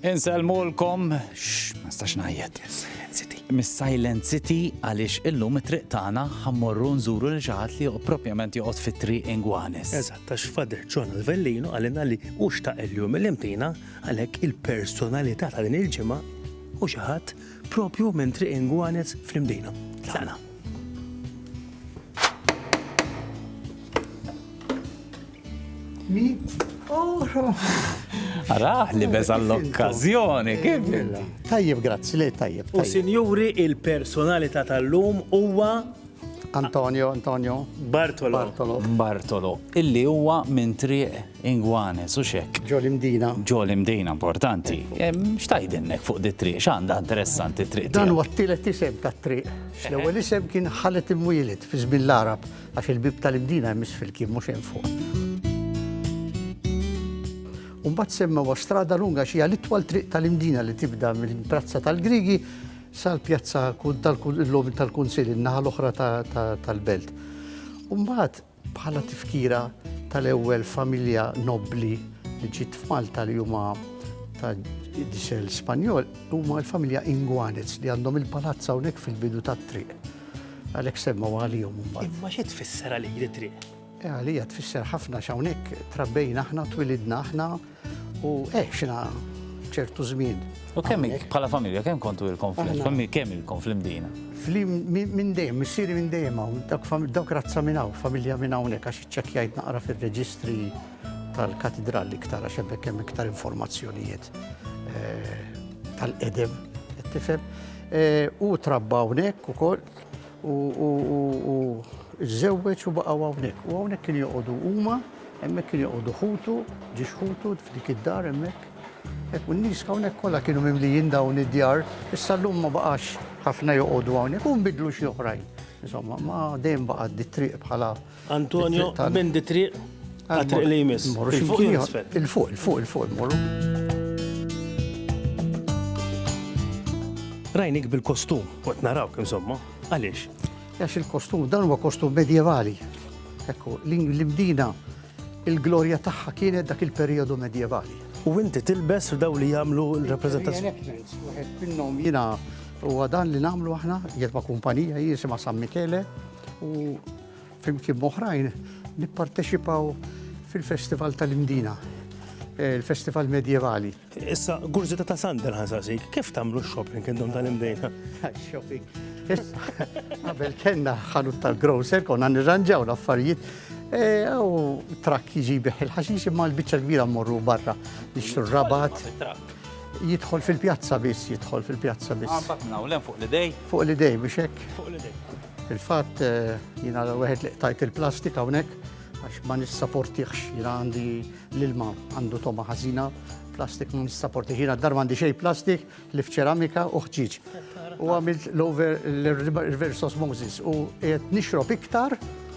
Insellmulkom, xx, ma nistax ngħajjed. Mis-Silent City għaliex illum it-triq tagħna ħammorru nżuru li xi ħadd li joqgħod propjament joqgħod fit-triq ingwanes. Eżatt, għax Fader John Alvellino għalina li u xtaq il-jum il-imtina għalhekk il-personalità ta' din il-ġimgħa u xi ħadd propju minn triq ingwanes fl-imdina. Tlaqna. Araħ li beża l-okkazjoni, kif? Tajjeb, grazzi, li tajjeb. U sinjuri, il-personalità tal-lum huwa Antonio, Antonio. Bartolo. Bartolo. Bartolo. Illi huwa minn triq ingwane, su xek. Ġol imdina. Ġol imdina, importanti. Xtajdinnek fuq di triq, xanda interessanti triq. Dan huwa t-tielet isem ta' triq. L-ewwel isem kien ħalet imwieled fi żmien l-Arab. Għax il-bieb tal-imdina jmiss fil-kien mhux hemm fuq. U mbagħad semmewha strada lunga xi l-itwal triq tal-imdina li tibda minn Prazza tal-Griegi sal-pjazza tal-logħob tal-Kunsill in-naħa l-oħra tal-belt. U mbagħad bħala tifkira tal-ewwel familja nobbli li ġiet f'Malta li huma ta' disel Spanjol huma l-familja Ingwanez li għandhom il-palazza hawnhekk fil-bidu tat-triq. Għalhekk semmew għalihom imbagħad. Imma xi tfisser għalik di triq? Eh, għalija tfisser ħafna x'hawnhekk trabbejna aħna, twilidna aħna u eħxna ċertu żmien. U kemm bħala familja kemm kontu il-konflitt? Kemm il-konflitt dina? Flim minn dejjem, missieri minn dejjem hawn, dawk razza minn hawn, familja minn hawnhekk għax iċċekkjajt naqra fir-reġistri tal-katidral iktar għax hemmhekk hemm iktar informazzjonijiet eh, tal-qedem, tifhem. Hu trabba hawnhekk ukoll u żżewweġ u baqgħu hawnhekk. U hawnhekk kien joqogħdu huma, hemmhekk kien joqogħdu ħutu, ġiex ħutu f'dik id-dar hemmhekk. Hekk u n-nies hawnhekk kollha kienu mimlijin dawn id-djar, issa llum ma baqax ħafna joqogħdu hawnhekk u nbidlu xi oħrajn. Insomma, ma dejjem baqgħet di triq bħala Antonio, minn di triq, għatriq li jmiss. Il-fuq, il-fuq, il-fuq, il-fuq, morru. Rajnik bil-kostum, għat naraw kim somma, għalix? Għax il-kostum, dan huwa kostum medjevali. Ekku, l-imdina, il-glorja tagħha kienet dak il-periodu medjevali. U inti tilbes f'daw li jagħmlu l-rappreżentazzjoni. Minnhom jiena huwa dan li nagħmlu aħna, jgħid ma' kumpanija jisimha San Michele, u flimkien moħrajn nipparteċipaw fil-Festival tal-Imdina, eh, il-Festival Medjevali. Issa, gurzita ta' Sandel ħansasik, kif tamlu shopping intom tal-imdejna? Shopping. Għabel kena ħanut tal-grocer, konna nirranġaw l-affarijiet. Eh, u trakk jiġi biħ il-ħaxix imma l-bicċa kbira morru barra. Nixtru rabat. Jidħol fil-pjazza biss, jidħol fil-pjazza biss. Għambat minn hawn fuq l-idej. Fuq l-idej biex hekk. Fuq l-idej. Fil-fatt eh, jiena wieħed li qtajt il-plastik hawnhekk għax ma nissaportiħx jiena għandi l-ilma għandu toma ħażina plastik ma nissaportiħx jiena dar għandi xejn plastik li f'ċeramika u ħġiġ. U għamilt l-over l-reverse osmosis u qed nixrob iktar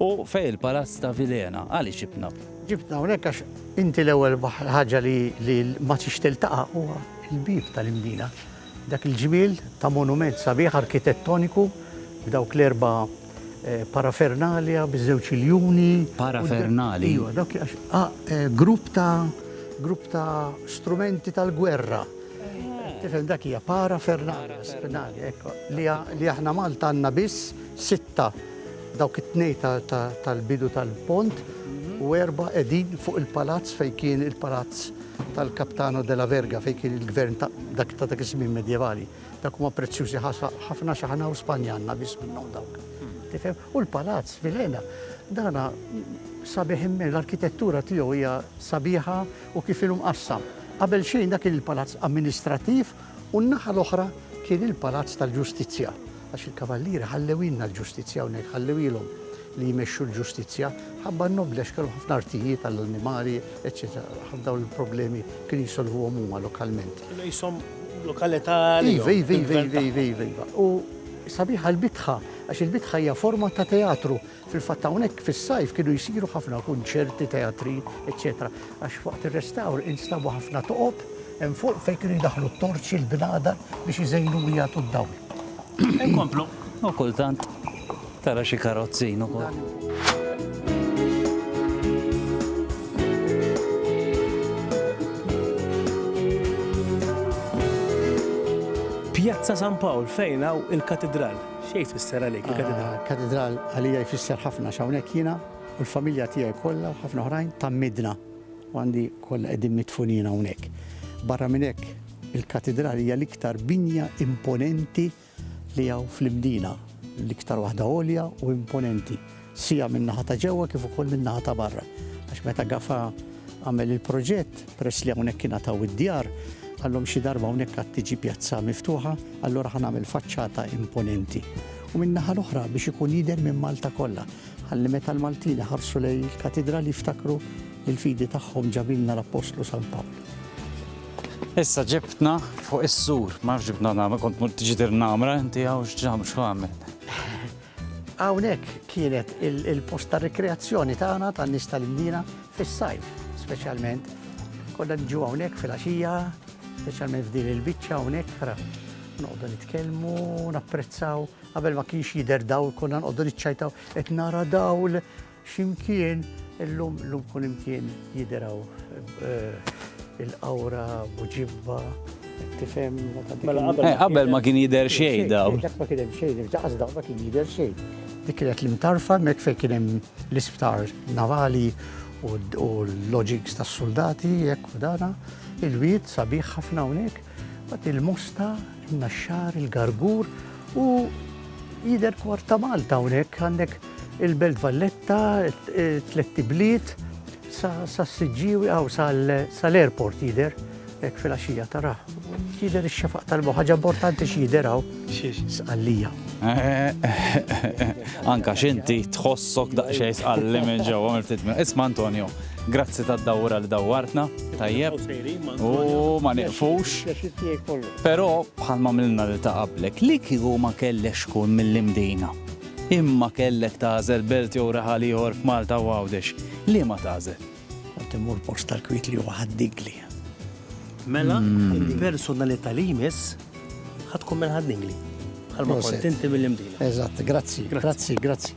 U fejn il-palazz ta' Vilhena? Għaliex ibnab? Ġibtna hawnhekk għax inti l-ewwel ħaġa li li ma tix tiltaqa' huwa l-bieb tal-Imdina. Dak il-ġmiel ta' monument sabiħ arkitettoniku b'dawk l-erba' parafernalia, biż-żewġ iljuni. Parafernalia? Iva, dawk għax ha grupp ta' grupp ta' strumenti tal-gwerra. Tifhem dak hija parafernalia, spinalia, hekk li aħna Malta għandna biss sitta Dawk it-tnejn tal-bidu tal-pont u erba' qegħdin fuq il-palazz fejn kien il-palazz tal-Capitano della Verga fejn kien il-gvern ta' dak ta' dak iż-żmien medjevali. Dawk huma prezzjużi ħafna xi aħna hawn Spanja għandna biss minnhom dawk. Tifhem? U l-palazz fil-Ena dana sabiħ immen, l-arkitettura tiegħu hija sabiħa u kif inhu mqassam. Qabel xejn dak kien il-palazz amministrattiv u n-naħa l-oħra kien il-Palazz tal-Ġustizzja, għax il-Kavallieri ħallewilna l-ġustizzja hawnhekk, ħallewilhom li jmexxu l-ġustizzja, ħabba n-nobli għax kellhom ħafna artijiet għall-annimali, eċċetera. Ħafna dawn il-problemi kienu jsolvuhom huma lokalment. Kienu qishom lokalità għalihom. Iva, iva, iva, iva, iva, iva. U sabiħa l-bitħa, għax il-bitħa hija forma ta' teatru, Fil-fatt hawnhekk fis-sajf kienu jsiru ħafna kunċerti, teatri, eċċetera għax waqt ir-restawr instabu ħafna toqob hemm fuq fejn kienu jdaħħlu t-torċi, l-bnadar biex iżejnu u jagħtu d-dawl. Inkomplu. U kultant tara xi karozzin ukoll. Pjazza San Pawl fejn hawn il-Katidral. X'jgħid fisser għalik il-katidral? Katidral għalija jfisser ħafna x'hawnhekk jiena u l-familja tiegħi kollha u ħafna oħrajn tgħammidna u għandi kollha qegħdin midfunin hawnhekk. Barra minn hekk, il-katidral hija l-iktar binja imponenti li hawn fl-Imdina, l-iktar waħda għolja u imponenti. sia min-naħa ta' ġewwa kif ukoll min-naħa ta' barra, għax meta Gafa għamel il-proġett, peress li hawnhekk ingħataw id-djar, qalhom xi darba hawnhekk għad tiġi pjazza miftuħa, allura ħa nagħmel faċċata imponenti. U min-naħa l-oħra biex ikun jidher minn Malta kollha, ħalli meta l-Maltin iħarsu lejn il-katidral jiftakru li l-fidi tagħhom ġabilna l-Appostlu San Pawl. Issa ġibtna fuq is-sur, ma nafx ġibna nagħmel, kont mur tiġi dir nagħmel, inti hawn x'ġam x'għamel. Hawnhekk kienet il-post ta' rikreazzjoni tagħna tan-nies tal-Imdina fis-sajf, speċjalment konna nġu hawnhekk fil-għaxija, speċjalment f'din il-biċċa hawnhekk ra noqogħdu nitkellmu, napprezzaw, qabel ma kienx jidher dawl konna noqogħdu niċċajtaw qed nara dawl X'imkien, illum kullimkien jidher hawn il-qawra, buġibba, tifhem. Mela qabel ma kien jidher xejn dawn. Dak ma kien hemm xejn, ġaqas dawn ma kien jidher xejn. Dik kienet l-imtarfa hemmhekk fejn kien hemm l-isptar navali u l-loġigs tas-suldati hekk u dana. Il-wied sabiħ ħafna hawnhekk. Mbagħad il-mosta, in-naxxar, il-gargur u jidher kwart ta' Malta hawnhekk għandek il-Belt Valletta, tletti bliet, sa s-Siġġiewi għaw sal-airport jidher, hekk fil-għaxija tara. Jidher ix-xefaq tal-bo, ħaġa importanti x'jidher għaw. Sqallija. Anka x'inti tħossok daqsxejn sqalli minn ġewwa mill-ftit. Isma' Antonio, Grazzi tad-dawwra li dawwartna tajjeb u ma nieqfux. Però bħal ma milna lil ta' qablek, li kieku ma kellekx tkun mill-Imdina, imma kellek tagħżel belt jew raħal ieħor f'Malta u Għawdex, liema tagħżel? Kont immur post tal-kwiet li huwa Ħad-Dingli. Mela, il-personalità li jmiss ħa tkun minn Ħad-Dingli, bħal ma kont inti mill-Imdina. Eżatt, grazzi, grazzi, grazzi.